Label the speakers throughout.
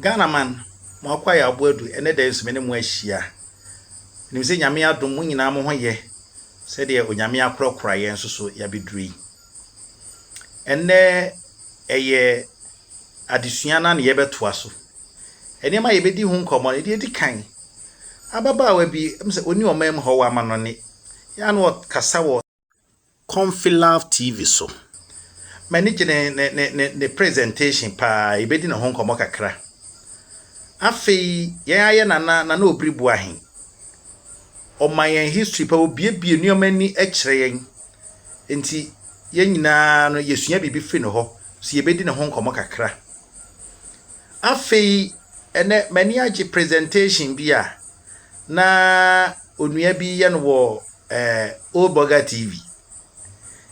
Speaker 1: Ghana man, mo akɔ ayɛ aboa du. Ɛnɛ da yi nso me ne mo ahyia. Nim sɛ Nyame adom mo nyinaa mo ho yɛ sɛdeɛ Onyame akorakora yɛn nso so yɛabɛduru yi. Ɛnɛ ɛyɛ adesua no na yɛbɛtoa so. Nneɛma a yɛbɛdi ho nkɔmmɔ no, deɛ ɛdi kan, ababaawa bi, ɛmu sɛ ɔni ɔman mu hɔ wɔ amanɔne, yɛ ano ɔkasa wɔ Comfy Love TV so. M'ani gye ne, ne, ne, ne, ne presentation paa. Yɛbɛdi ne ho nkɔmmɔ kakra. Afei, yɛn ayɛ Nana, Nana Obiri Boahe. Ɔma yɛn history pa, obiebie nneɛma ani kyerɛ yɛn. Nti, yɛn nyinaa no, yɛsua biribi firi ne hɔ. So yɛbɛdi ne ho nkɔmmɔ kakra. Afei, ɛnɛ, m'ani agye presentation bi a na Onua bi yɛ no wɔ ɛɛ Old Burger TV.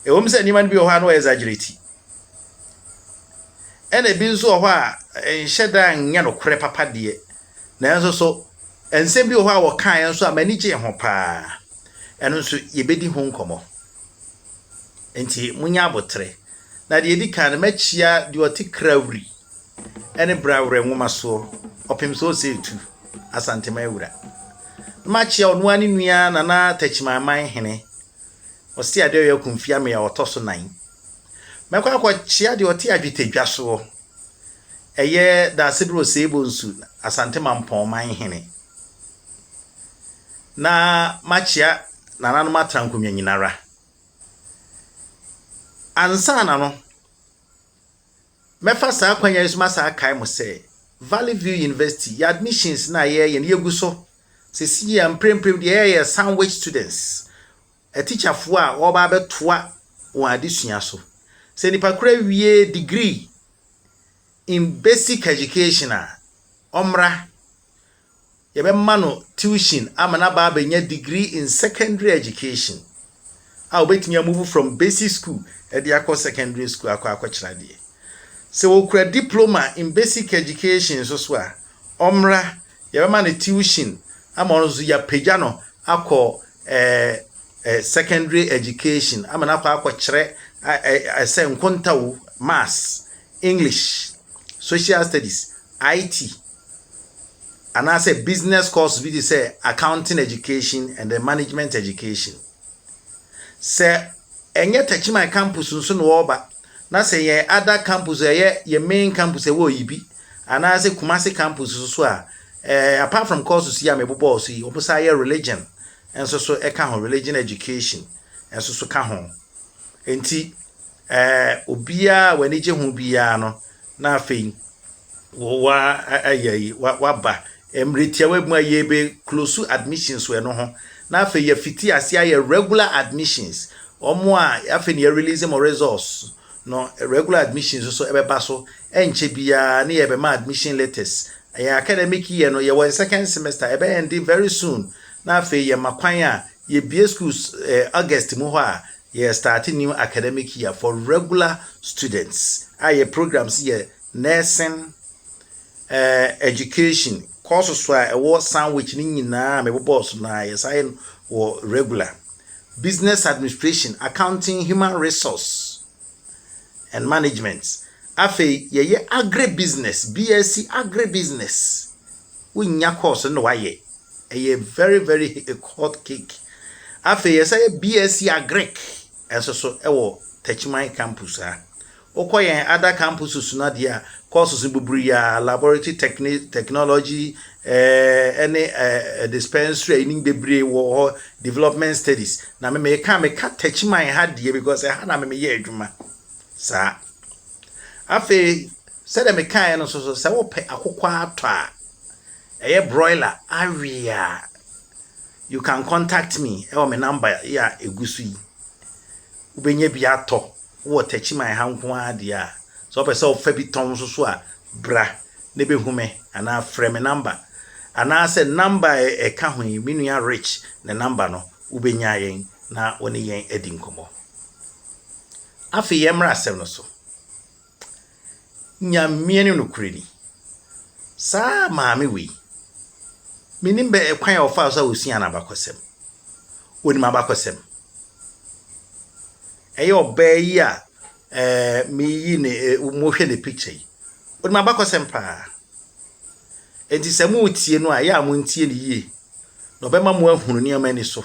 Speaker 1: Ɛwom sɛ nneɛma no bi wɔ hɔ a na wɔyɛ exaggerate. Ɛna ebi nso wɔ hɔ a nhyɛ da nyɛ nokorɛ papa deɛ. Nanso so nsɛm bi wɔ hɔ a wɔkaeɛ nso a m'ani gyee ho paa. Ɛno nso yɛbɛdi ho nkɔmmɔ. Enti monyɛ aboterɛ. Na deɛ ɛdi kan no, mɛkyia deɛ ɔte Krawri ne Bra Werɛ nwoma soɔ ɔpem sɛ ɔsɛ etu Asantema awura no ma kyea ɔno ara ne nua Nana Takyimanman hene ɔse adeɛ ɔyɛ Akumfi Amea ɔtɔ so nan mɛkɔ akɔ kyea deɛ ɔte Adwetadwa soɔ ɛyɛ Daasebrɛ Oseebɔ nsu Asante Mampɔn man hene na ma kyea nananom atrankonwa nyinara ansa na no. Mɛfa saa akwanya yi so masan akae mo sɛ, Valley View University, yɛn admissions no a yɛreyɛ no, yɛgu so. Sɛsi yi a, mprempren deɛ yɛyɛ yɛ sandwich students, atikyafoɔ a wɔreba abɛtoa wɔn adesua so. Sɛ nipa koro awie degree in basic education a, ɔmmra. Yɛbɛma no tuition ama no aba abɛnya degree in secondary education a obetumi amuvu from basic school de akɔ secondary school akɔ akɔkyerɛ adeɛ. Sɛ ɔkura diploma in basic education nso so a, ɔmmra, yɛbɛma no tuition ama ɔno nso so yɛapagya no akɔ secondary education ama no akɔ akɔkyerɛ sɛ nkontawu, maths, English, social studies, IT, anaasɛ business course bi te sɛ accounting education and then management education. Sɛ ɛnyɛ Techiman campus nso na wɔreba na sɛ yɛn ada campus ɛyɛ yɛn main campus ɛwɔ Oyibi anaasɛ Kumasi campus nso a eh, apart from courses yi a mebobɔɔ so yi wɔn san yɛ religion nso so ɛka ho religion education nso so ka ho nti eh, obiara a w'ani gye ho biara no na afei Wa ayɛ yi wa wa ba mmerɛ tiawa mu a yɛ bɛ close admissions wɔ ɛno ho na afei yɛ fiti ase ayɛ regular admissions wɔn a afei na yɛ release mo results no regular admissions nso ɛbɛ ba so ɛnkyɛ biara ne yɛ bɛ ma admission letters yɛ academic year no yɛ wɔ yɛ second semester ɛbɛ ɛndi very soon na afei yɛ ma kwan a yɛ bie schools eh, August mu hɔ a yɛ start new academic year for regular students a yɛ programs yɛ Nursing eh, education courses a ɛwɔ Sandwich no nyinaa mebobɔɔ so na yɛsan yɛ no wɔ regular. Business administration, accounting, human resource and management. Afei yɛyɛ agribusiness, BSc agribusiness. Wonya course no na wayɛ. Ɛyɛ very very hot cake. Afei yɛsan yɛ BSc agric, nso so wɔ Techiman Campus a. Wokɔ yɛn ada campus so no adeɛ a, courses no bebree a, laboratory techni technology eh, ne eh, dispensary a yɛnim bebree wɔ hɔ, development studies. Na me meka meka Techiman ha deɛ because ɛha na me meyɛ adwuma. Saa. Afei, sɛdeɛ mekaeɛ no nso so, sɛ wopɛ akokɔ atɔ a, ɛyɛ broiler awe a, You can contact me ɛwɔ me number yi a ɛgu so yi. Wobɛnya bi atɔ, wowɔ Techiman ha nko ara deɛ a, sɛ wopɛ sɛ wofa bi tɔn nso so a, bra na bɛhu me anaa frɛ me number. Anaasɛ number a ɛka ho yi, me nua Rich ne number no, wobɛnya yɛn na wo ne yɛn adi nkɔmmɔ. Afei yɛmmra asɛm no so. Nyame ne nokorɛni. Saa maame wei, menim bɛ kwan a ɔfaa so a ɔsuaa n'abakɔsɛm. Ɔnim abakɔsɛm. Ɛyɛ ɔbaa yi a eh, meyi ne, eh, mohwɛ ne picture yi. Ɔnim abakɔsɛm paa. Enti sɛ moretie no a, ɛyɛ a montie no yie. Na ɔbɛma mo ahunu nneɛma ani so.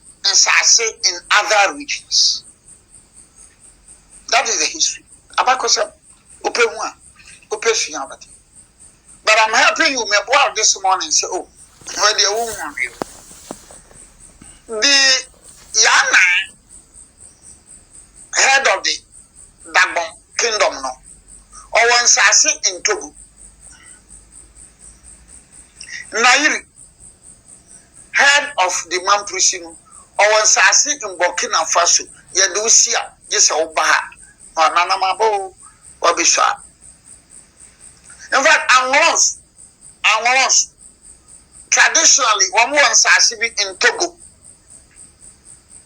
Speaker 2: nsase in other regions that is the history abakɔsɛm wopɛ hu a wopɛ sua wobɛte but I'm helping you mɛboa wo this morning sɛ oh wɔ deɛ wo hu hwee o the yana head of the Dagbon kingdom no ɔwɔ nsase in Togo Nairi Head of the Mamprisi no ɔwɔ nsaase in Burkina Faso yɛde wo si a gye sɛ wo ba ha na wananam aba oo wabɛsɔ a in fact Anglos Anglos traditionally wɔn wɔ nsaase bi in Togo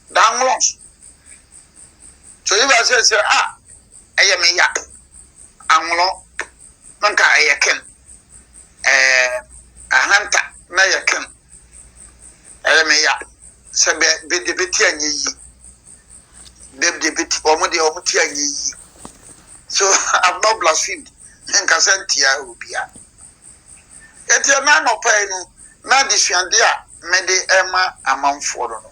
Speaker 2: the Anglos So Yehowa sɛ sɛ a ɛyɛ me ya anwono no nka ɛyɛ ken ɛɛ ahanta na ɛyɛ ken ɛyɛ me ya sɛ bɛ bɛ de bɛ ti anyɛ yie bɛ de bɛ ti wɔn deɛ wɔn ti anyɛ yie so I'm not blasphemed ne nkasa ntia obia eti ɛna anɔpa yi no na adesuade a mɛde ɛma amanfoɔ no no.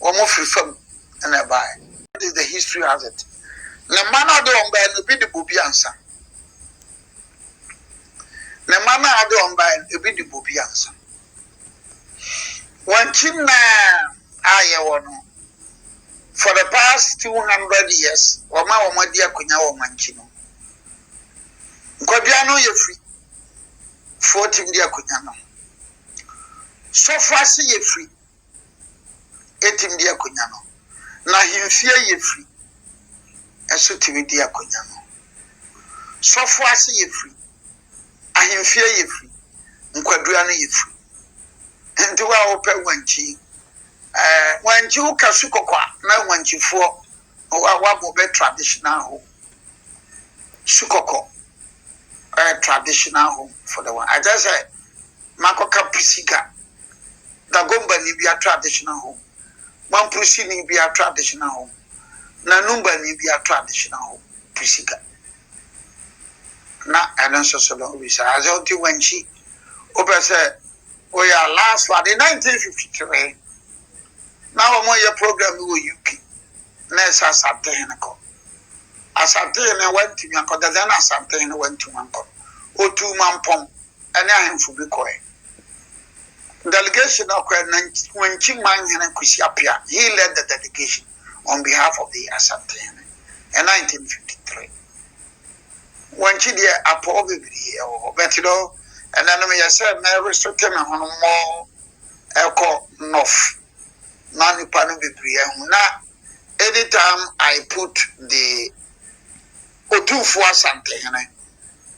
Speaker 2: wɔn firi fam na ɛbaeɛ. That is the history has it. Ne mma no a ɔde wɔn baeɛ no, ebi de bobi ansa. Ne mma no a ɔde wɔn baeɛ no, ebi de bobi ansa. Wɔn akyi nna a yɛwɔ no, for the past two hundred years, wɔn a wɔadi akonnwa wɔ wɔn akyi no, nkwadua no yɛ firi foɔ tim di akonnwa no. Sɔfo ase yɛ firi etumi di akonya no, na ahemfie a yefiri nso tumi di akonya no. Sɔfo ase yefiri, ahemfie yefiri, nkwadua no yefiri. Nti wo a wopɛ wankyi, ɛɛ eh, wankyi wo ka su kɔkɔa na wankyifoɔ wabɔ bɛ traditional home, su kɔkɔ ɛɛ eh, traditional home for the one. Akyɛ sɛ Makɔka Pusiga Dagombani bia traditional home, Mampurusini bia traditional home, na Numbani bia traditional home, Pusiga. Na ɛno nso so no, wobisa adze ɔnti wankyi. Wopɛ sɛ woyɛ a, last one in 1953, na wɔyɛ program bi wɔ UK, na ɛsɛ Asantehene kɔ. Asantehene wantumi ankɔ, the then Asantehene wantumi ankɔ no, ɔtuu Mampong. ne ahemfo bi kɔe. Delegation a ɔkɔe no, na Wanchi man hene Kwesi Appiah, he led the delegation on behalf of the Asante hene in 1953. Wanchi deɛ apɔw bebree wɔ hɔ but no, ɛnɛ no meyɛ sɛ mɛresote me ho no more ɛkɔ North ma nipa no bebree ahu na anytime I put the Otumfuo Asante hene,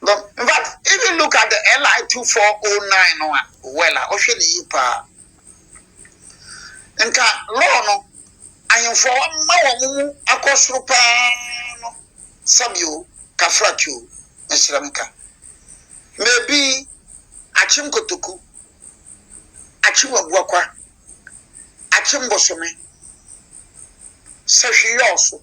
Speaker 2: But in fact, if you look at the LI 2409 no a, well, a ɔhwɛ ne yie paa. Nka law no ahemfo a wɔma wɔn mu akɔ soro paa no sɛbi o, kafrati o, mesrɛ me ka. Mebi akyem kotoku, akyem abuakwa, akyem bosome, sɛhweyɔɔ so.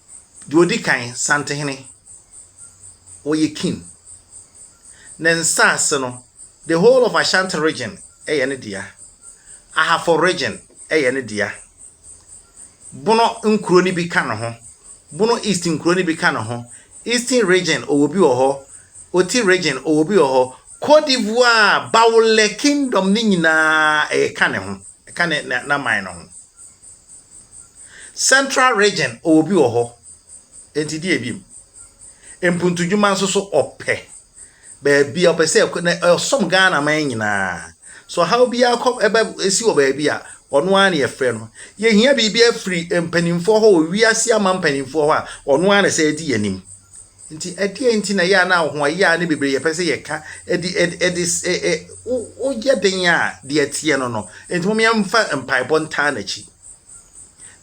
Speaker 1: Deɛ ɔdi kan, Santehene, ɔyɛ king. Ne nsaase no, the whole of Ashanti region yɛ ne dea. Ahafo region yɛ ne dea. Bono nkuro no bi ka ne ho. Bono East nkuro no bi ka ne ho. Eastern region, ɔwɔ bi wɔ hɔ. Oti region, ɔwɔ bi wɔ hɔ. Cote d'Ivoire, Baoulé kingdom no nyinaa, ɛka ne ho. Ɛka ne n'aman no ho. Central region ɔwɔ bi wɔ hɔ nti deɛ bi mu mpuntudwuma nso so ɔpɛ baabi a ɔpɛ sɛ ɛkɔ na ɔsom Ghana man nyinaa so ɔhaw bi akɔ ɛbɛ esi wɔ baabi a ɔno ara na yɛfrɛ no yɛhia biribi afiri mpanimfoɔ hɔ wɔ wiase ama mpanimfoɔ hɔ a ɔno ara na sɛ edi yɛn anim. Nti ɛdeɛn nti na ɛyɛ a na ahoɔyaa no bebree yɛpɛ sɛ yɛka ɛde ɛde ɛde ɛ ɛ wo woyɛ den a deɛ ɛteɛ no no nti mom yɛmfa mpaebɔ ntaa n'akyi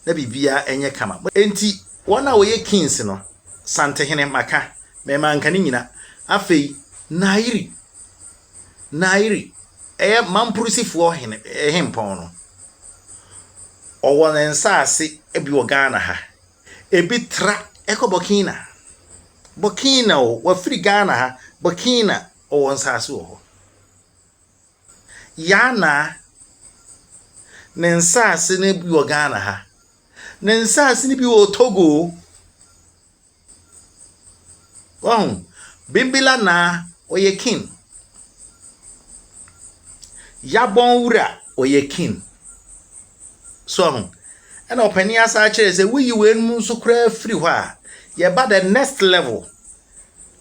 Speaker 1: na biribiara ɛnyɛ kama nti wɔn a wɔyɛ kings no santehene maka mɛ manka ne nyina afei naayiri naayiri ɛyɛ mampurusifoɔ hene ɛhempɔn no ɔwɔ ne nsaase ɛbi wɔ Ghana ha Ebi tra kɔ Burkina. Burkina o, wafiri Ghana ha, Burkina ɔwɔ nsaase wɔ hɔ. Yanaa, ne nsaase no bi wɔ Ghana ha. Ne nsaase no bi wɔ Togo. Wahu, Bimbila Naa, ɔyɛ Kin. Yabon Wura, ɔyɛ Kin. So ahu? Ɛna ɔpanin asan kyerɛɛ sɛ woyi weinom nso koraa firi hɔ a, yɛba the next level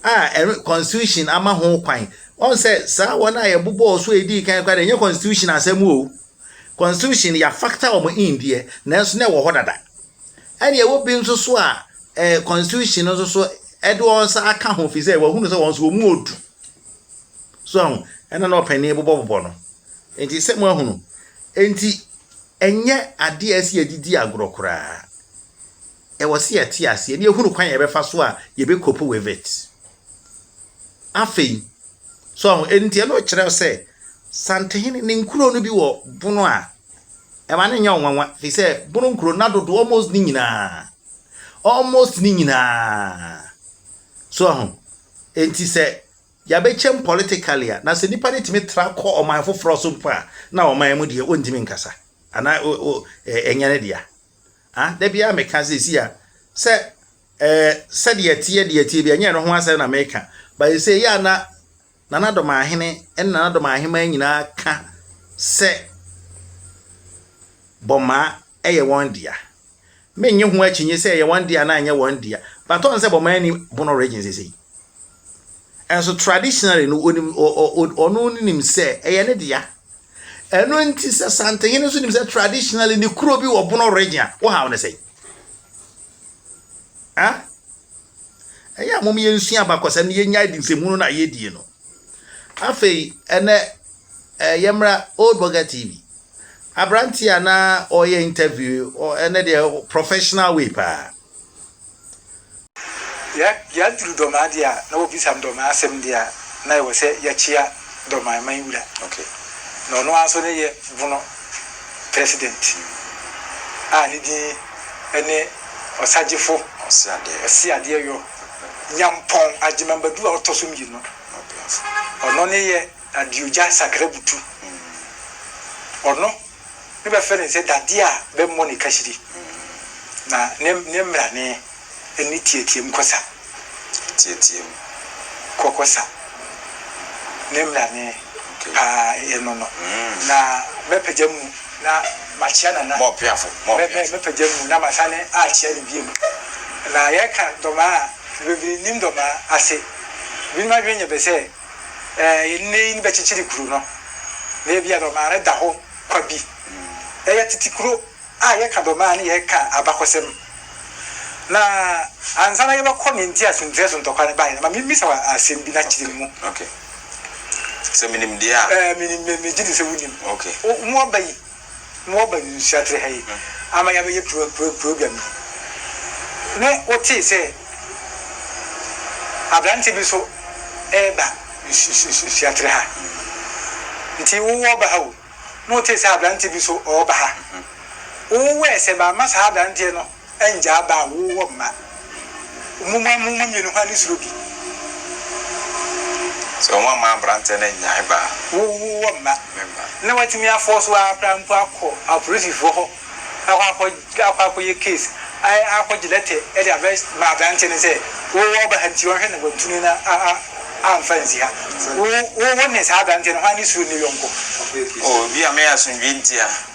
Speaker 1: a ɛno constitution ama ho kwan. Wɔn sɛ saa wɔn a yɛbobɔɔ so a ɛdii kan koraa deɛ ɛnyɛ constitution asɛm o. Constitution yɛafakta wɔn in deɛ nanso na ɛwɔ hɔ dada. Ɛna ɛwɔ bi nso so a eh, constitution nso so ɛde wɔn nsa aka ho fi sɛ wɔahunu sɛ wɔn nso wɔn mu odu. So ahu? Ɛna na ɔpanin bobɔbobɔ no. Enti, sɛ moahunu. Enti, ɛnyɛ adeɛ a ɛsɛ yɛde di agorɔ koraa. Ɛwɔ sɛ yɛte aseɛ na yɛhunu kwan a yɛbɛfa so a yɛbɛkopo with it. Afei, so ho, enti ɛno kyerɛ sɛ Santehene ne nkuro no bi wɔ bono a ɛma no nyɛ ɔnwanwa, firi sɛ bono nkuro na dodo almost ne nyinaa, almost ne nyinaa, so ho, enti sɛ Yɛabɛkyɛm politically a, na sɛ nnipa no tumi tra kɔ ɔman foforɔ so mpo a, na ɔman mu deɛ wɔntumi nkasa. Anaa o, o, ɛ, ɛnyɛ ne dea. Ha, da biara meka seesei a, sɛ, ɛ, sɛdeɛ ɛteɛ deɛ ɛteɛ bi, ɛnyɛ ɛno ho asɛm na meka, but ɛsɛ yɛ a na Nana Dɔmahene ne Nana Dɔmahemaa nyinaa ka sɛ Bɔmaa yɛ wɔn dea. Me nnye ho akyinnye sɛ ɛyɛ wɔn dea anaa ɛnyɛ wɔn dea, but ɔn sɛ bɔmaa ni bono regye sesei. Ɛnso traditionally no onim ɔ ɔ ɔ ɔno nim sɛ ɛyɛ ne dea. Ɛno nti sɛ Santehene nso nim sɛ traditionally ne kuro bi wɔ bono regye a, wo haw ne sɛn? Ah? Ɛyɛ a mom yɛn nsua abakɔsɛm ne yɛn nya adi nsɛmu no na yɛdie no. Afei ɛnɛ ɛyɛ mmra Old Burger TV. Aberanteɛ a na ɔreyɛ interview ɔ ɛnɛ deɛ professional way paa.
Speaker 3: Yɛ yɛaduru Dɔmaa deɛ a na wɔbisa me Dɔmaa asɛm deɛ a na ɛwɔ sɛ yɛkyea Dɔmaa man wura na
Speaker 4: ɔno ara nso
Speaker 3: ne yɛ bono president a ne din ne Ɔsagyefo Ɔseadeɛ Yɔ Nyampɔn Agyemang Badu a ɔtɔ so mmienu ɔno ne yɛ Dadeɛ ogya sakra butu ɔno ne bɛfrɛ no sɛ dadeɛ a bɛmmɔ ne kahyire na ne ne mmerane ne teateam kɔ sa teateam
Speaker 4: kɔ
Speaker 3: kɔ sa ne mmerane paa ɛno no na mɛpagya mu na makyea nana mɔpeafo mɔpeafo
Speaker 4: mɛpagya mu na
Speaker 3: masane akyea no biam na yɛka dɔmaa na bebree nim dɔmaa ase binom adwene nyɛ bɛ sɛ Ɛɛ, nnɛyi no bɛkyekyere kuro no, na ebia Dɔmaa no da hɔ kwa bi. Ɛyɛ tete kuro a yɛka Dɔmaa no yɛka abakɔsɛm. Na ansa na yɛbɛkɔ nea nti a Sunkyerɛ so ntɔkwa no baeɛ no, ma memmisa wo asɛm bi na kyerɛ mu. Okay.
Speaker 4: Sɛ menim deɛ a. Ɛɛ, menim, megye di
Speaker 3: sɛ wonim. Okay. Wo, mo aba
Speaker 4: yi.
Speaker 3: na wɔaba nhyira tee ha yi ama yɛabɛyɛ program yi, ne wotee sɛ aberante bi nso reba nhyira tee ha, nti wowɔ ba ha o, ne wotee sɛ aberante bi nso ɔreba ha, wowɔ wɛɛ sɛ mamma saa aberanteɛ no. Ngyaa ba a wowɔ mma. Muma mo mu mmienu hwane suro bi.
Speaker 4: Sɛ wɔn amma abranteɛ no nnyae ba a. Wowɔ mma. Me mma.
Speaker 3: Na watumi afɔɔ so ara koraa mpo akɔ apolisifoɔ hɔ akɔ akɔ akɔ akɔyɛ case ayɛ akɔgye lɛtɛ de abɛ ma abranteɛ no sɛ wowɔ ɔba ha nti ɔnhwɛ na wantu no na a a amfa nsi ha. Wo wo ne saa abranteɛ no hwane suro ne yɔnko. Oh ebia
Speaker 4: me asomdwoe nti a.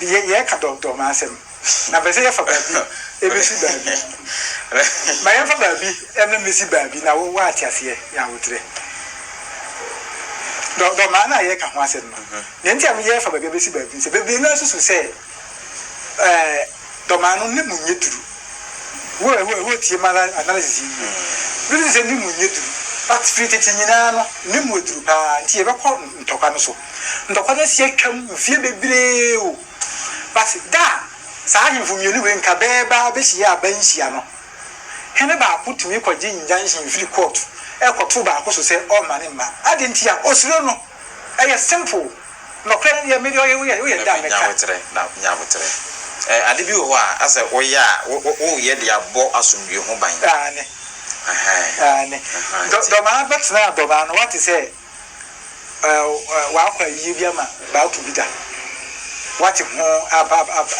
Speaker 3: Yɛ yɛreka dɔɔdɔɔ ma asɛm na mpɛ sɛ yɛfa baabi ɛbɛsi baabi. Ma yɛmfa baabi ɛmɛ mmɛsi baabi na wo woate aseɛ yɛ awoterɛ. Dɔɔdɔɔ ma na yɛreka ho asɛm no. Deɛ nti a me yɛrefa baabi ɛbɛsi baabi no sɛ bebree naa susu sɛ ɛɛ dɔmaa no ne mu nyɛ duru. Wo wo wotie ma analysis yi yie. Biribi sɛ ne mu nyɛ duru but firi tete nyinaa no ne mu aduru paa nti yɛbɛkɔ ntɔkwa no so. Ntɔkwa no asi atwam mfeɛ bebree o, but da a saa ahemfo mmienu wei nkabɛɛbaa bɛhyiaa aban nhyia no, hene baako tumi kɔgye injunction firi court rekɔto baako so sɛ ɔmma ne mma. Adɛn nti a? Ɔsuro no. Ɛyɛ simple. Nɔkorɛ no deɛ me deɛ woyɛ a mɛka. Nya aboterɛ, na nya aboterɛ.
Speaker 4: Ɛɛ ade bi wɔ hɔ a asɛ woyɛ a wo wo woyɛ de abɔ asomdwoe ho ban. Aane. Ahaa. Aane.
Speaker 3: Dɔ dɔmaa bɛtenaa dɔmaa no wate sɛ. W'akɔ ayie bi ama b'ato bi da. W'ate ho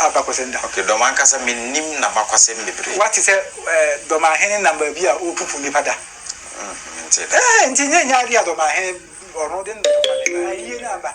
Speaker 3: abakɔsɛm da. Ok, dɔm ankasa
Speaker 4: mennim n'abakɔsɛm bebree. W'ate sɛ
Speaker 3: dɔmahene nam baabi a ɔrepupu nnipa da. Mente da. Ɛɛ, nti nyɛ nyɛ adeɛ a dɔmahene ɔno de ne ayie no aba.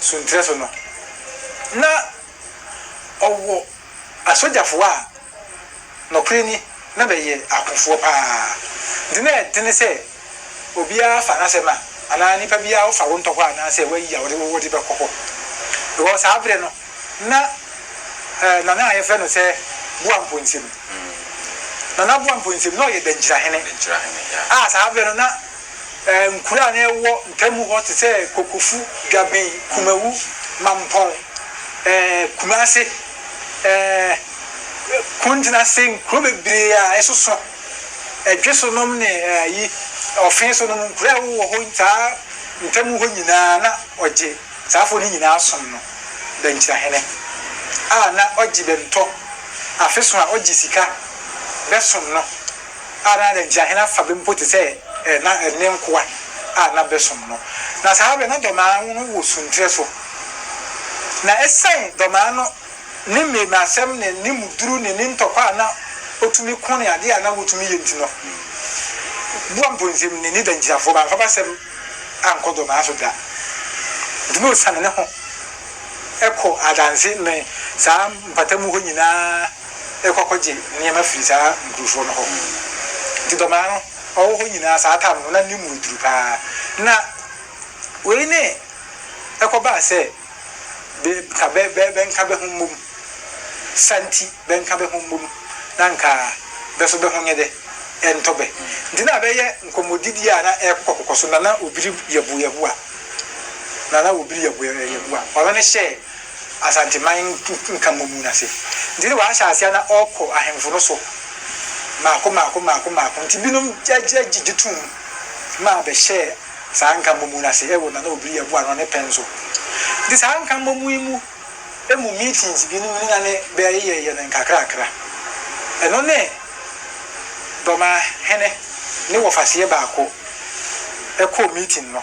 Speaker 3: So nkyerɛ so no, na ɔwɔ asogyafoɔ a nɔkorɛ ni na bɛyɛ akofoɔ paa. Nti na ɛdene sɛ obiara fa n'asɛm a anaa nipa biara wofa wo ntɔ hɔ anaa sɛ woayi a wode wo wode bɛkɔ hɔ. Because saa berɛ no na eh, Nana a yɛfrɛ no sɛ Boa Mponsim, Nana Boa Mponsim na ɔyɛ Dankyirahene a saa berɛ no na Nkuro a na ɛwɔ ntamu hɔ te sɛ Kokofu, Dwaben, Kumawu, Mampɔn, Kumase, Kuntenase, nkuro bebree a ɛsoso Dwe so nom ne Ɔfe so nom, nkuro a ɛwowɔ hɔ saa ntamu hɔ nyinaa na ɔgye saa afoɔ no nyinaa som no Bɛnkyirahene a na ɔgye bɛntɔ afeso a ɔgye sika bɛsom no. Adɛn ara nti, ahene afa bi mpo te sɛ na ne nkoa a na bɛsom no, na saa bere no na dɔmmaa no wɔ sunterɛ so. Na esiane dɔmmaa no ne mmarimasɛm ne ne mu duru ne ne ntɔkwa a na otumi ko ne ade a na wotumi yɛ nti no, Boamponsem ne ne dangyinafoɔ bamfa basɛm ankɔ dɔmmaa so da. Enti na osiane ne ho kɔ adanse ne saa mpatamu hɔ nyinaa. rekɔ akɔgye nneɛma firi saa nkurofoɔ no hɔ. Nti dɔmaa no ɔwɔ hɔ nyinaa saa tam no na ne mu yɛ duru paa. Na wei ne ɛkɔbaa sɛ be nka bɛ bɛ bɛnka bɛ ho mmom sa nti bɛnka bɛ ho mmom na nka bɛ so bɛ ho nyɛ dɛ ɛntɔ bɛ. Nti na bɛyɛ nkɔmmɔdidie a na ɛkokɔkokɔ so na na obiri yɛbo yɛboa na na obiri yɛbo yɛboa ɔno ne hyɛɛ. Asanteman nkamu mu no ase. Ntsi no ɔahyɛ ase a na ɔkɔ ahemfo no so mako mako mako mako. Ntsi binom gye too mu ma ɔbɛhyɛɛ saa nkamu mu no ase wɔ Nana Obiri Abu ano ne pɛn so. Ntsi saa nkamu yi mu mu meetings binom no na ne bɛyɛyɛyɛ no nkakrakra. Ɛno ne Dɔmahene ne wɔfaseɛ baako kɔɔ meeting no.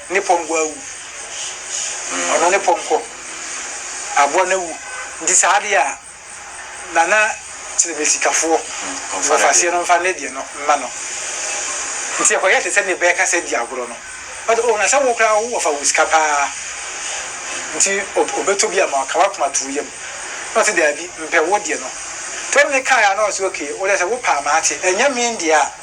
Speaker 3: Ne pɔnkɔ awu. Ɔno ne pɔnkɔ. Aboa no awu. Nti saa adeɛ a, Nana Kyerɛbɛsikafoɔ, wɔfa aseɛ no mfa ne deɛ no mma no. Nti ɛkɔyɛ te sɛ ne bɛɛka sɛ di agorɔ no. Ɔde oh, na sɛ wo koraa wo wɔfa wɔ sika pa ara. Nti ɔbɛtɔ bi ama wo, ka w'akoma to wo yam. Na ɔse daabi, mpɛ wo deɛ no. Nti ɔne no kaeɛ a na ɔse okay, wo deɛ sɛ wo pɛ a mate, ɛnyɛ me deɛ a,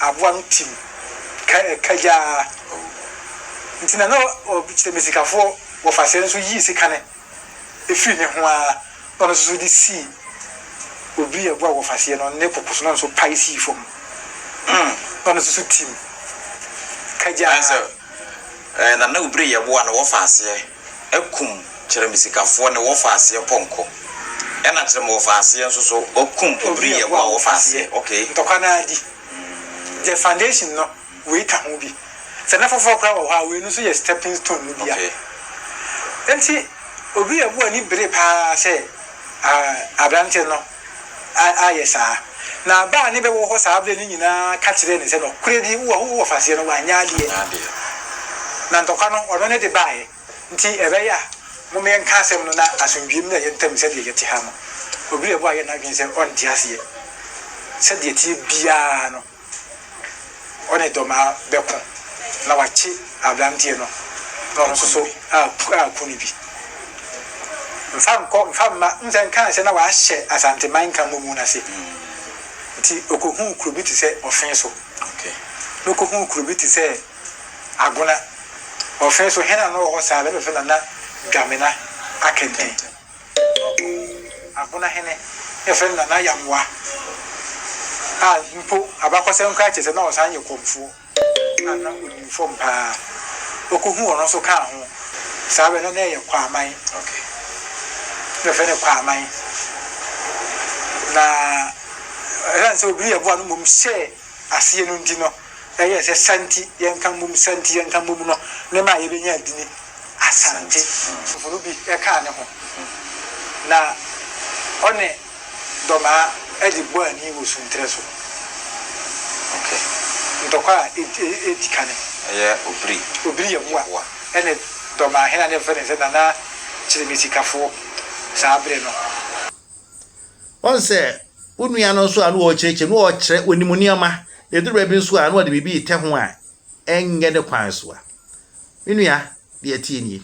Speaker 3: aboa no ti mu kagyaa nti na na ɔkyerɛ me sikafoɔ wɔfa sɛɛ nso yii sika no firi ne ho ara na ɔno nso de sii obi a ɛboa wɔfa seɛ no ne koko so na ɔno nso pae sii fam hmm na ɔno nso ti mu kagyaa.
Speaker 4: Ɛɛ na na obire yɛ boa no wɔfa seɛ. kum kyerɛmisikafoɔ ne wɔfaaseɛ pɔnkɔ, ɛna kyerɛmwɔfaaseɛ nso so wɔkum obriyɛfoɔ a wɔfaaseɛ. Ok. Ntɔkwa no ara di.
Speaker 3: Deɛ foundation no, wei ka ho bi. Sɛ na foforɔ koraa wɔ hɔ a, wei no nso yɛ stepping stone no bi a. Ok. Enti, obriyɛboɔ ani bere pa ara sɛ, ah, aberanteɛ no. ayɛ saa. Na ba a ne bɛ wɔ hɔ saa berɛ no nyinaa ka kyerɛɛ no sɛ, Nɔkorɛ di, wo wɔ w'ɔfaseɛ no, w'annya adeɛ, na ntɔkwa no ɔno ne de baeɛ, nti ɛbɛyɛ a mom yɛnka asɛm no na asomdwie mmra yɛn ntam sɛdeɛ yɛte ha no. Obi reboa yɛ n'adwene sɛ ɔnte aseɛ sɛdeɛ ɛteɛ biara no. Ɔne dɔmmaa bɛko na wakye aberanteɛ no na ɔno nso so aku no bi. Mfa nkɔ mfa mma. Wohu sɛ nkaa sɛ na wɔahyɛ Asanteman Nkramomu no ase nti ɔkɔhuu kuro bi te sɛ Ɔfe so
Speaker 4: na ɔkɔhuu kuro
Speaker 3: bi te sɛ Agona. Ɔfe so, hena na ɔwɔ hɔ saa? Bɛbɛfrɛ no Nana Dwamena Akenten. Ɔsoro Abona Hene na yɛfrɛ no Nana Yamoa a mpo abakɔsɛm koraa kyerɛ sɛ na ɔsan yɛ kɔmfoɔ a na ɔnim fam pa ara. Ɔkɔhuu ɔno nso kaa ho. Saa berɛ no na ɛyɛ Kwaaman. Na yɛfrɛ no Kwaaman. Na ɛsiane sɛ Obiri yɛ boa no mmom hyɛɛ aseɛ no nti no, ɛyɛɛ sɛ Santi yɛnka mmom, Santi yɛnka mmom no ne maa yɛbɛnyaa dini Asante. Fofo no bi kaa ne ho na ɔne Dɔmaa de bɔɔ ani wɔ Sunterɛ so.
Speaker 4: Ntɔkwa
Speaker 3: a ɛdi kane. Ɛyɛ Obiri.
Speaker 4: Obiri
Speaker 3: Yeboa ne Dɔmaa hene a na yɛfrɛ no sɛ Nana Kyeremesi Kafoɔ saa berɛ no.
Speaker 1: Wahu sɛ wo nua no nso a na ɔrekyerɛkyerɛ no ɔrekyerɛ onim nneɛma. Ɛduru baabi nso a na ɔde biribi retɛ ho a ɛnyɛ ne kwan so a. Me nua, deɛ ɛteɛ nie.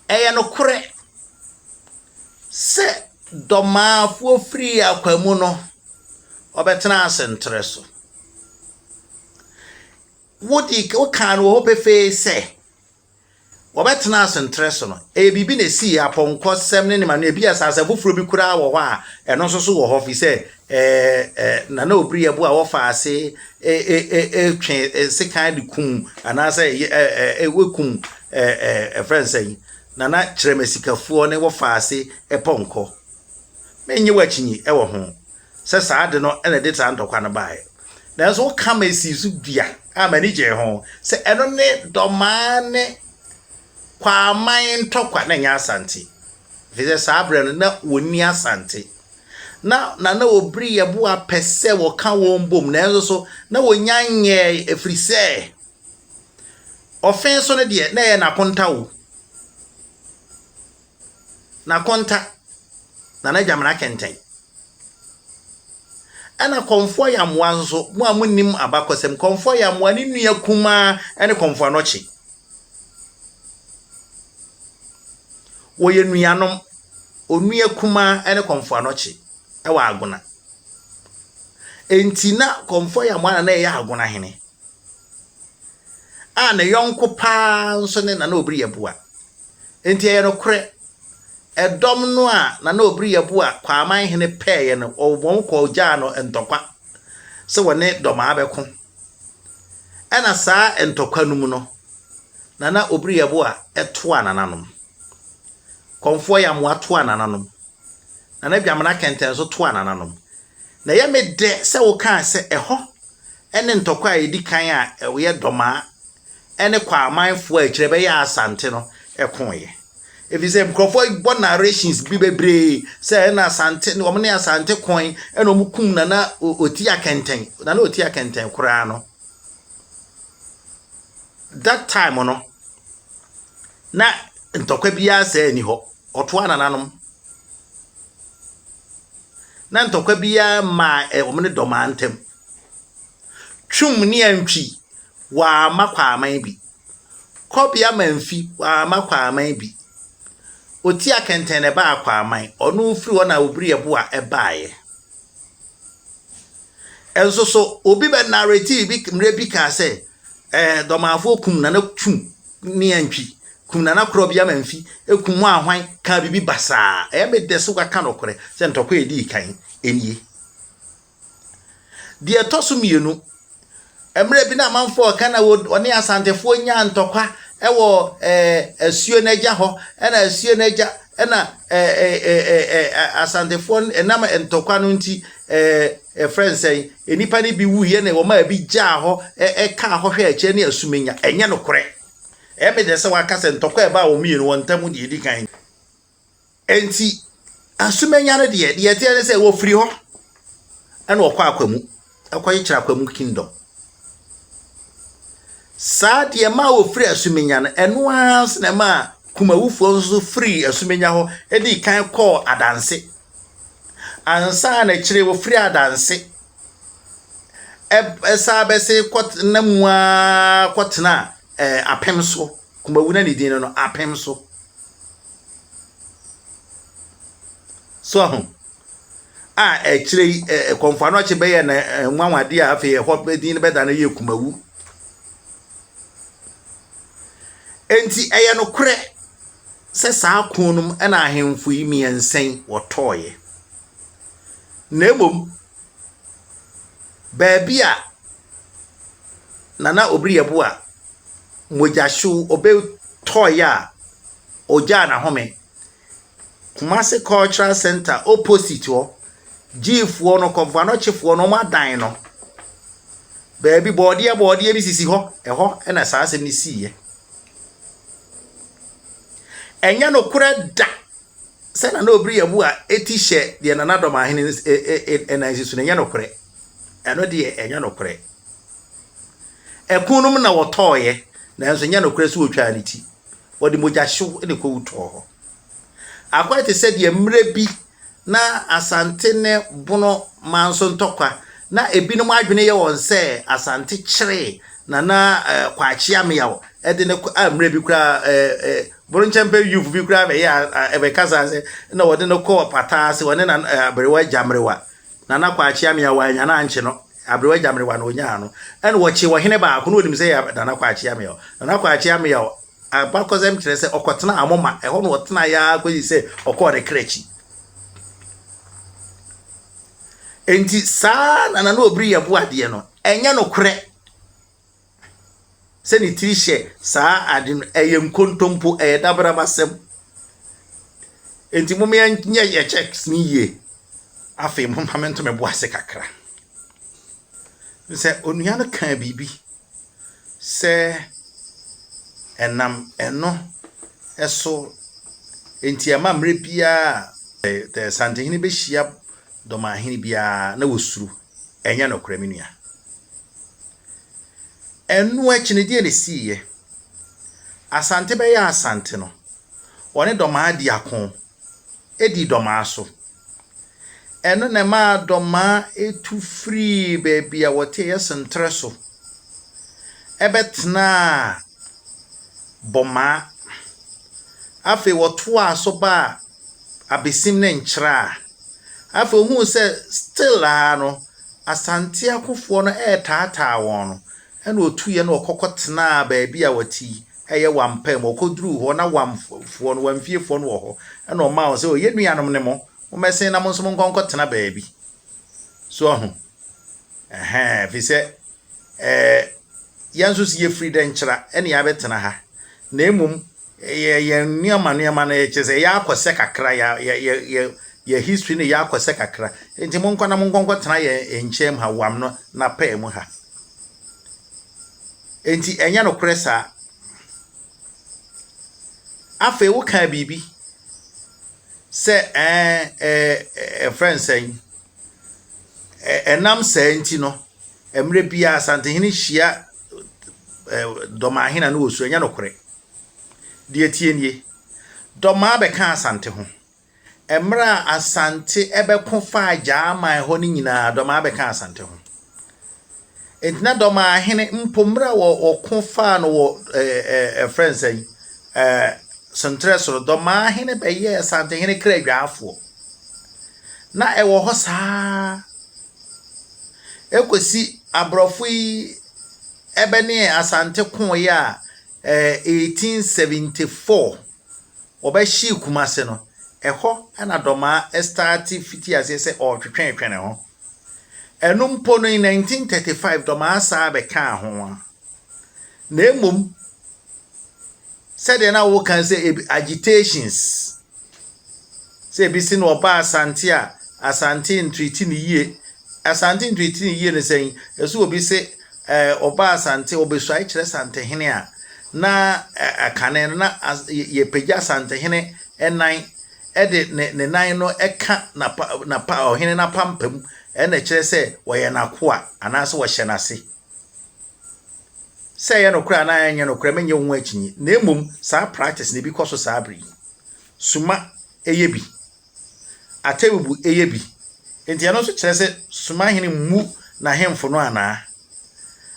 Speaker 1: Ɛyɛ nokorɛ sɛ dɔmaafoɔ firi akwa mu no, ɔbɛtena ase ntrɛ so. Wodi wokaa no wɔ hɔ pefee sɛ, Wɔbɛtenaa ase ntrɛ so no, ɛyɛ biribi na esii, apɔnkɔsɛm ne nneɛma no. Ebia asase foforo bi koraa wɔ hɔ a ɛno nso so wɔ hɔ, efisɛ na na obiri ɛbo a wɔfa ase twe sekan de kum anaasɛ wɔkum ɛfrɛ no sɛn, na na kyerɛmasikafoɔ ne wɔfa ase pɔnkɔ. Mennye wo akyinnye wɔ ho. sɛ saa ade no na ɛde saa ntɔkwa no baeɛ. Nanso woka ma ɛsii so dua a m'ani gyee ho sɛ ɛno ne Dɔmaa ne Kwaaman ntɔkwa na ɛnyɛ Asante. Ɛfiri sɛ saa berɛ no na wɔnni Asante. Na Nana Obiri Yeboah pɛ sɛ wɔka wɔn bom nanso so na wɔnya nyɛɛe ɛfiri sɛ Ɔfenso no deɛ na ɛyɛ n'akonta o. na konta na n'agya mmara kɛntɛn. Ɛna kɔmfoɔ yamoa nso, mo a monim abakɔsɛm, kɔmfoɔ yamoa ne nua kumaa ne kɔmfoɔ anɔkye. Wɔyɛ nuanom, onua kumaa ne kɔmfoɔ anɔkye wɔ agona. Enti na kɔmfoɔ yamoa na na ɛyɛ agona hene. A ne yɔnko paa nso ne na na obiri yɛ boa. Enti ɛyɛ nokorɛ, ɛdɔm no a na na ɔbiri yɛ bo a Kwaaman hene pɛɛeɛ no, wɔn kɔɔ gyaa no ntɔkwa sɛ wɔne Dɔmaa bɛko. Ɛna saa ntɔkwa no mu no, na na ɔbiri yɛ bo a toaa nananom. Kɔmfoɔ Yamoa toaa nananom. Na na Dwamena Kɛntɛn nso toaa nananom. Na ɛyɛ me dɛ sɛ wokaa sɛ ɛhɔ ne ntɔkwa a ɛdi kan a ɛyɛ Dɔmaa ne Kwaamanfoɔ a akyire bɛyɛɛ Asante no koeɛ. Ɛfiri sɛ nkurɔfoɔ bɔ narrations bi bebree sɛ ɛna Asante ne wɔn ne Asante koe ɛna wɔn kum Nana Otia Kɛntɛn Nana Otia Kɛntɛn koraa no that time no na ntɔkwa biara sɛ ani hɔ ɔtoa nananom na ntɔkwa biara maa wɔn ne dɔmaa ntam. Twum ne Antwi, wɔamma Kwaaman bi. Kɔbea Mamfi, wɔamma Kwaaman bi. Otia Kɛntɛn na ɛbaa Kwaaman, ɔno mfiri hɔ na Obirieboa baeɛ. Nso so, obi bɛ narrativi bi mmerɛ bi kaa sɛ, eh, Dɔmanfoɔ kum Nana Twum ne Antwi, kum Nana Korɔbea Mamfi, kum mo ahwan, kaa biribi basaa. Ɛyɛ me dɛ sɛ wɔaka nɔkorɛ, sɛ ntɔkwa a ɛdii kan nie. Deɛ ɛtɔ so mmienu, mmerɛ bi na amanfoɔ reka na wɔne asantefoɔ nyaa ntɔkwa wɔ asuo no agya hɔ, ɛna asuo no agya ɛna asantefoɔ ɛnam ntɔkwa no nti ɛfrɛ nsɛn, nnipa no bi wuiɛ na wɔn a bi gyaa hɔ ɛkaa hɔ hwɛ akyire ne asumenya, ɛnyɛ nokorɛ. Ɛmɛ deɛ sɛ wɔaka sɛ ntɔkwa ɛbaa wɔn mmienu wɔn ntam deɛ ɛdi kan. Enti, Asumannya no deɛ, deɛ ɛteɛ ne sɛ wɔfiri hɔ na wɔkɔ akwamu, kɔkyekyere akwamu kingdom. Saa deɛ ɛma wɔfiri Asumannya no, ɛno ara nso na ɛma Kumawufoɔ nso firi Asumannya hɔ di kan kɔɔ Adanse. Ansa na akyire wɔfiri Adanse ɛsan bɛse kɔtena mu ara kɔtena apem so. Kumawu na ne din no no, apem so. So ahu? A akyire yi ɛ Kɔmfoanɔkye bɛyɛɛ no anwanwadeɛ a afei ɛhɔ bɛ din no bɛda no yɛ Kumawu. Enti ɛyɛ nokorɛ sɛ saa ko no mu na ahemfo yi mmiɛnsa yi wɔtɔeɛ. Na mmom, baabi a Nana Obiriabu a mogyahyew obe toy a ogyaa n'ahome. Kumasi cultural centre opposite hɔ, Gyfoɔ no, kɔmfoanɔkyefoɔ no, wɔn adan no, baabi bɔɔdeɛ bɔɔdeɛ bi sisi hɔ, ɛhɔ na saa asɛm no siiɛ. Ɛnyɛ nokorɛ da Sɛ na na obi reyɛ bo a eti hyɛ deɛ nanadɔm ahene nan si so no, ɛnyɛ nokorɛ. Ɛno deɛ ɛnyɛ nokorɛ. Ɛko no mu na wɔtɔɔeɛ, nanso ɛnyɛ nokorɛ sɛ wɔtwaa ne ti. Wɔde mogyahyew na ɛkɔwu tɔɔ hɔ. Akɔyɛ te sɛ deɛ mmerɛ bi na Asante ne Bono man so ntɔkwa, na ebinom adwene yɛ wɔn sɛ Asante kyeree Nana Kwakye Ameyaw de no kɔ a mmerɛ bi koraa Boro nkyɛmpɛ Yufo bi koraa bɛyɛɛ abɛkasaa sɛ na wɔde no kɔ ɔpata ase, wɔne na aberewa agya mmerewa, Nana Kwakye Amea wannya no ankye no, aberewa agya mmerewa na ɔnyaa no, ɛna wɔkyee ɔhene baako na wɔnim sɛ yɛ Nana Kwakye Amea. Nana Kwakye Amea abakɔsɛm kyerɛ sɛ ɔkɔtenaa Amoma, ɛhɔ na ɔtenaeɛ ara kɔsi sɛ ɔkɔɔ ne kra akyi. Enti saa Nana no Obiri yɛ boadeɛ no, ɛnyɛ nokorɛ. sɛ ne tiri hyɛ saa ade no, ɛyɛ nkontompo, ɛyɛ dabraba asɛm. Enti mom yɛnyɛ yɛ checks no yie. Afei momma me nto me bo ase kakra. Sɛ onua no kaa biribi sɛ ɛnam ɛno ɛso nti ɛma mmerɛ biara a Santehene bɛhyia dɔmahene biara na wɔsuro. Ɛnyɛ nokorɛ me nua. Ɛno akyi no, deɛn na ɛsiiɛ? Asante bɛyɛɛ Asante no, wɔne Dɔmaa dii ako dii Dɔmaa so. Ɛno na ɛmaa Dɔmaa tu firii baabi a wɔte ɛyɛ Senterɛ so bɛtenaa Bɔmaa. Afei wɔtoaa so baa Abesim ne Nkyraa. Afei ohuu sɛ still ara no Asante akofoɔ no retaataa wɔn no, ɛna otuiɛ na ɔkɔ kɔtenaa baabi a wɔte yi, ɛyɛ Wampa mu. Ɔkɔduruu hɔ na Wamfoɔ no, Wamfiefoɔ no wɔ hɔ, ɛna ɔmaa wɔn sɛ, o yɛn nuanom ne mo, mommɛsen na mo nso monkɔ nkɔtena baabi. So ahu? Ɛhɛn, ɛfiri sɛ ɛɛ, yɛn nso so yɛfiri Dɛnkyira ɛne yɛabɛtena ha, na mmom Yɛ yɛn nneɛma nneɛma no yɛ kyerɛ sɛ yɛ akɔ sɛ kakra yɛ yɛ yɛ yɛ yɛ history no yɛ akɔ sɛ kakra nti mo nkɔ na mo nkɔ nkɔ tena yɛ nkyɛn mu ha wam no na pɛɛ mu ha nti ɛnyɛ no korɛ saa afei wo kaa biribi sɛ ɛɛ ɛɛ ɛfrɛ nsɛn. Ɛnam saa nti no, mmerɛ biara Asantehene hyia Dɔmaa hene no wɔ su, ɛnyɛ nokorɛ. Deɛ ɛteɛ nie, Dɔmaa bɛka Asante ho. Mmerɛ a Asante bɛko faa Gyaman hɔ no nyinaa, Dɔmaa bɛka Asante ho. Egyina dɔm a hene mpo mmerɛ a wɔko faa no wɔ ɛɛ ɛɛ ɛfrɛ no sɛn ɛɛ sentrɛ soro dɔm a hene bɛyɛɛ santehene kra dwaafoɔ na ɛwɔ hɔ saa ɛkɔsi aborɔfo yi ɛbɛne asante koeɛ a ɛɛ 1874 wɔbɛhyee Kumase no ɛhɔ na dɔm a ɛstaate fiti aseɛ sɛ ɔretwetwɛtwɛ ne ho. Ɛno mpo no, in 1935 dɔmaa saa bɛkaa ho a, na mmom sɛdeɛ na woka sɛ agitations sɛ ebi si na ɔba asante a asante ntiriti ne yie asante ntiriti ne yie ne sɛn ɛso obi se ɛɛ ɔba asante ɔbɛsuae kyerɛ santehene a na ɛkane no na yɛpagya santehene ɛnan de ne ne nan no ka n'apa n'apa ɔhene n'apampam na ɛkyerɛ sɛ wɔyɛ n'akoa anaasɛ wɔhyɛ n'ase. Sɛ ɛyɛ nokorɛ anaa ɛnyɛ nokorɛ menyɛ wo ho akyinnye na mmom saa practice na ebi kɔ so saa bere yi. Suma yɛ bi. Atɛbubu yɛ bi. Nti ɛno nso kyerɛ sɛ Suma hene mmu n'ahemfo no anaa?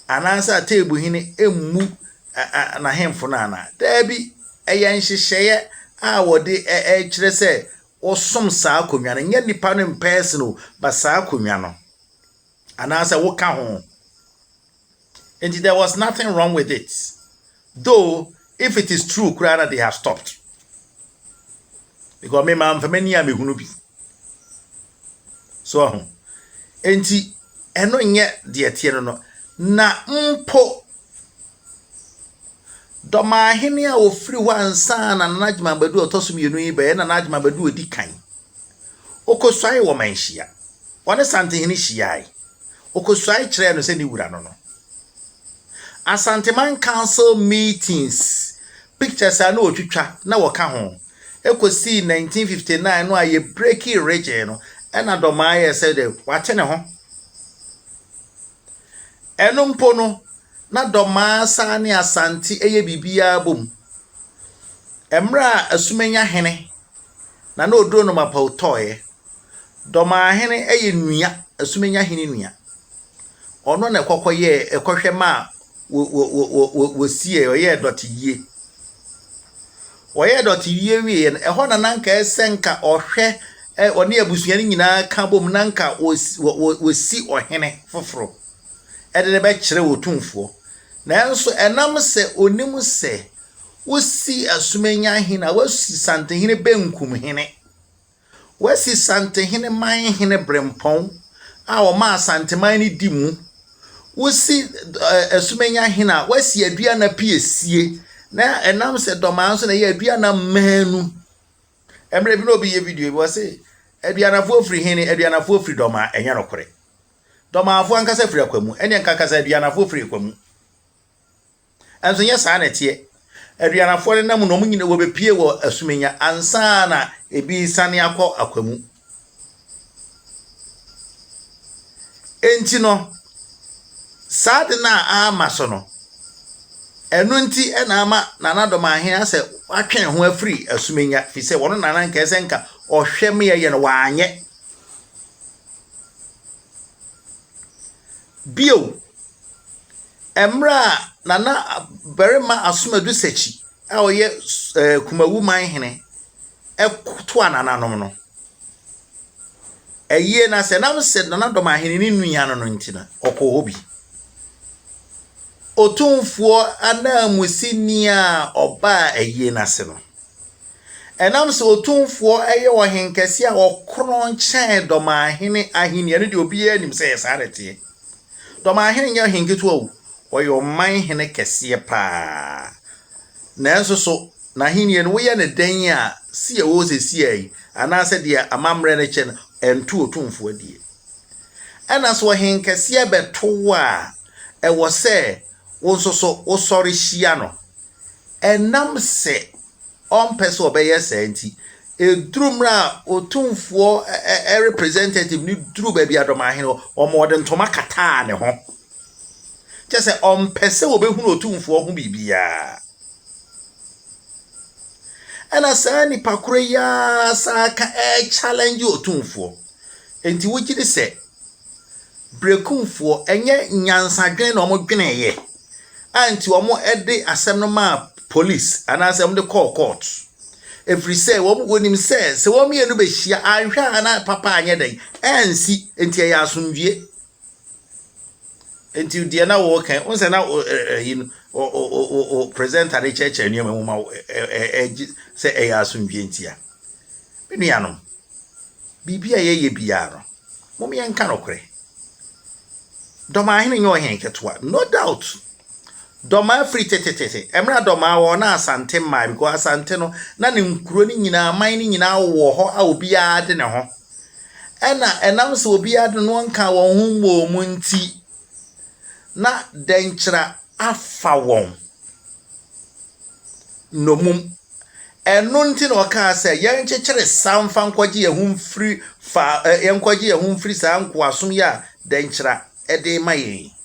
Speaker 1: Anaasɛ Atɛbubu hene mmu ɛ ɛ n'ahemfo no anaa? Dabi, ɛyɛ nhyehyɛeɛ a wɔde ɛ ɛ kyerɛ sɛ wɔsom saa akonnwa no. Ɛnyɛ nnipa no in person o, but saa akonnwa no. Anaasɛ woka ho. Nti there was nothing wrong with it. Though, if it is true koraa na they have stopped. Because me ma mfa m'ani a mehunu bi. So ahu? Enti, ɛno nyɛ deɛ ɛteɛ no no. Na mpo, Dɔmahene a ɔfiri hɔ ansa na Nana Adjuma Badu a ɔtɔ so mmienu yi bɛyɛ Nana Adjuma Badu a ɔdi kan. Ɔkɔsuae wɔ Manhyia. Ɔne Santehene hyiae. Ɔkɔsuae kyerɛɛ no sɛ ne wura no no. Asanteman Council meetings pictures a na ɔtwitwa na wɔka ho. Ɛkɔsii 1959 no a yɛbrekii regye no, ɛna Dɔmaa yɛɛ sɛ dɛ wate ne ho. Ɛno mpo no, na Dɔmaa saa ne Asante yɛ biribiara bom. Mmerɛ a Asumenya hene, Nana Oduro Nomapao tɔeɛ, Dɔmahene yɛ nua, Asumennya hene nua. Ɔno na ɛkɔkɔ yɛɛ ɛkɔhwɛ ma a wɔsiee, ɔyɛɛ dɔte yie. Wɔyɛɛ dɔte yie wieɛ no, ɛhɔ na na nka ɛsɛ nka ɔhwɛ ɔne abusua no nyinaa ka bom na nka wɔsi ɔhene foforɔ ɛde no bɛkyerɛ otumfoɔ. Nanso ɛnam sɛ ɔnim sɛ wosi Asumennya hene a, wosi Santehene Benkum hene. Wɔasi Santehene man hene berempɔn a wɔma Asanteman no di mu. Wosi Asumenya hene a, wɔasi Aduana piesie, na ɛnam sɛ Dɔmaa nso na ɛyɛ Aduana mmaanu. Mmerɛ bi na obi yɛ video bi, wɔse Aduanafoɔ firi he ne Aduanafoɔ firi Dɔmaa, ɛnyɛ nokorɛ. Dɔmaafoɔ ankasa firi Akwamu, ɛnneɛ nka kasa Aduanafoɔ firi Akwamu. Nanso ɛnyɛ saa na ɛteɛ. Aduanafoɔ no nam na wɔn nyina wɔbɛpie wɔ asumenya ansa na ebi resane akɔ akwa mu. Enti no, saa de no a ama so no, ɛno nti na ama Nana Domahe asɛ watwɛn ho afiri asumenya fi sɛ wɔn nana nkae sɛ nka ɔhwɛ me ɛyɛ no wanyɛ. Bio, Mmerɛ a Nana barima Asomadu Sakyyi a ɔyɛ Kumawu man hene toaa nananom no, ayie no ase, ɛnam sɛ Nana Dɔmahene no nua no nti no, ɔkɔɔ hɔ bi. Otumfoɔ ananmusini a ɔbaa ayie no ase no, ɛnam sɛ Otumfoɔ yɛ ɔhenkɛseɛ a ɔkorɔn kyɛn Dɔmahene ahennie no deɛ obiara nim sɛ ɛyɛ saa na ɛteɛ. Na ɔman hene nyɛ ɔhene ketewa o, ɔyɛ ɔman hene kɛseɛ pa ara. Nanso so n'ahennie no, woyɛ no dɛn a, si a ɛwɔ hɔ seesei yi, anaasɛ deɛ amammerɛ no kyɛ no, ɛnto Otumfoɔ adie? Ɛnna sɛ ɔhenkɛseɛ bɛto wo a, ɛwɔ sɛ wo nso so wosɔre hyia no. Ɛnam sɛ. ɔmpɛ sɛ ɔbɛyɛ saa nti, ɛduru mmerɛ a ɔtumfoɔ representative no duru baabi adɔmahene hɔ, ɔma ɔde ntoma kataa ne ho. Kyɛ sɛ ɔmpɛ sɛ wɔbɛhunu ɔtumfoɔ ho biribiara. Ɛna saa nnipa korɔ yi ara san ka ɛrechallenge ɔtumfoɔ. Enti wogye di sɛ Berekumfoɔ, ɛnyɛ nyansadwene na wɔdweneeɛ a nti wɔde asɛm no maa polis anaasɛ wɔde kɔɔ court. Ɛfiri sɛ wɔn wɔnim sɛ sɛ wɔn mmienu bɛhyia anhwɛ a na papa anyɛ dɛn ansi nti ɛyɛ asomdwie. Nti deɛ na wɔrekɛn wɔn sɛ na ɛyi no o presenter de kyerɛkyerɛ nneɛma mu ma ɛgye sɛ ɛyɛ asomdwie ntia. Me nuanom. Biribi a yɛyɛ biara no, mom yɛnka nokorɛ. Dɔmaa hene nyɛ ɔhene ketewa, no doubt. Dɔmaa firi tetetete, ɛmmerɛ a Dɔmaa wɔ na Asante mmaa, because Asante no, na ne nkuro no nyinaa, aman no nyinaa wɔ hɔ a obiara de ne ho. Ɛna ɛnam sɛ obiara de no nka wɔn ho mmɔɔ mu nti, na dɛnkyerɛ afa wɔn nnomum. Ɛno nti na ɔkaa sɛ, Yɛnkyekyere saa mfa nkɔgye yɛn ho mfiri fa, ɛ, yɛnkɔgye yɛn ho mfiri saa nkoasom yi a dɛnkyira de rema yɛn yi.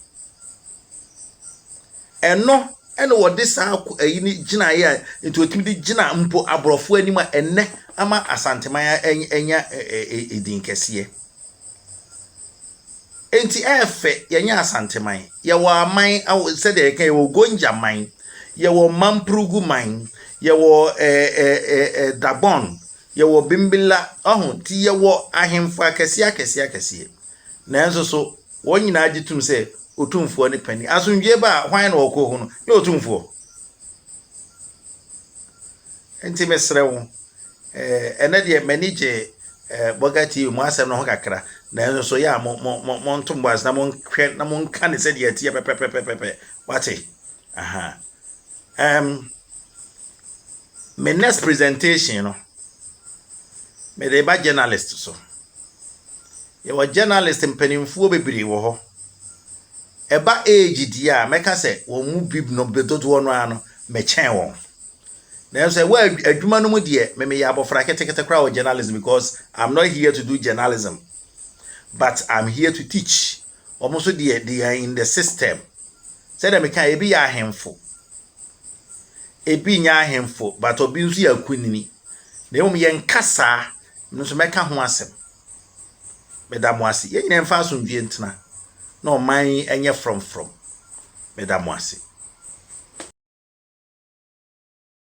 Speaker 1: Ɛno na wɔde saa ayi no gyinaeɛ a nti wɔtumi de gyina mpo aborɔfo anim a ɛnnɛ ama Asanteman anya edin kɛseɛ. Enti ɛyɛ fɛ, yɛnyɛ Asanteman, yɛwɔ aman aho sɛdeɛ yɛka yi, yɛwɔ Ugoniaman, yɛwɔ Mampuruguman, yɛwɔ ɛɛ ɛɛ ɛɛ Dagbon, yɛwɔ Bimbilla, ɔho, nti yɛwɔ ahemfo akɛseɛ akɛseɛ akɛseɛ. Nanso so, wɔn nyinaa gye tom sɛ Otumfoɔ ne panin. Asomdwoeɛ ba a, hwan na ɔkɔ hɔ no? Nyɛ Otumfoɔ. Nti mesrɛ wo, Eh, ɛnɛ deɛ m'ani gye eh, Burger TV mo asɛm no ho kakra nanso so yɛ a mo mo mo montom bo ase na monhwɛ na monka ne sɛdeɛ ɛteɛ pɛpɛpɛpɛpɛ wate aha um, me next presentation no mede ba journalist so yɛwɔ journalist mpanimfoɔ bebree wɔ hɔ ɛba age deɛ a mɛka sɛ wɔn mu bi no dodoɔ no ara no mɛkyɛn wɔn Nanso ɛwɔ adwuma no mu deɛ me meyɛ abɔfra ketekete koraa wɔ journalism because I'm not here to do journalism but I'm here to teach. Wɔn nso deɛ they are in the system. Sɛdeɛ meka ebi yɛ ahemfo, ebi nyɛ ahemfo but obi nso yɛ akunini. Na mmom yɛn kasa no nso mɛka ho asɛm. Meda mo ase. Yɛn nyinaa mfa asomdwie ntena na ɔman yi nyɛ frɔmfrɔm. Meda mo ase.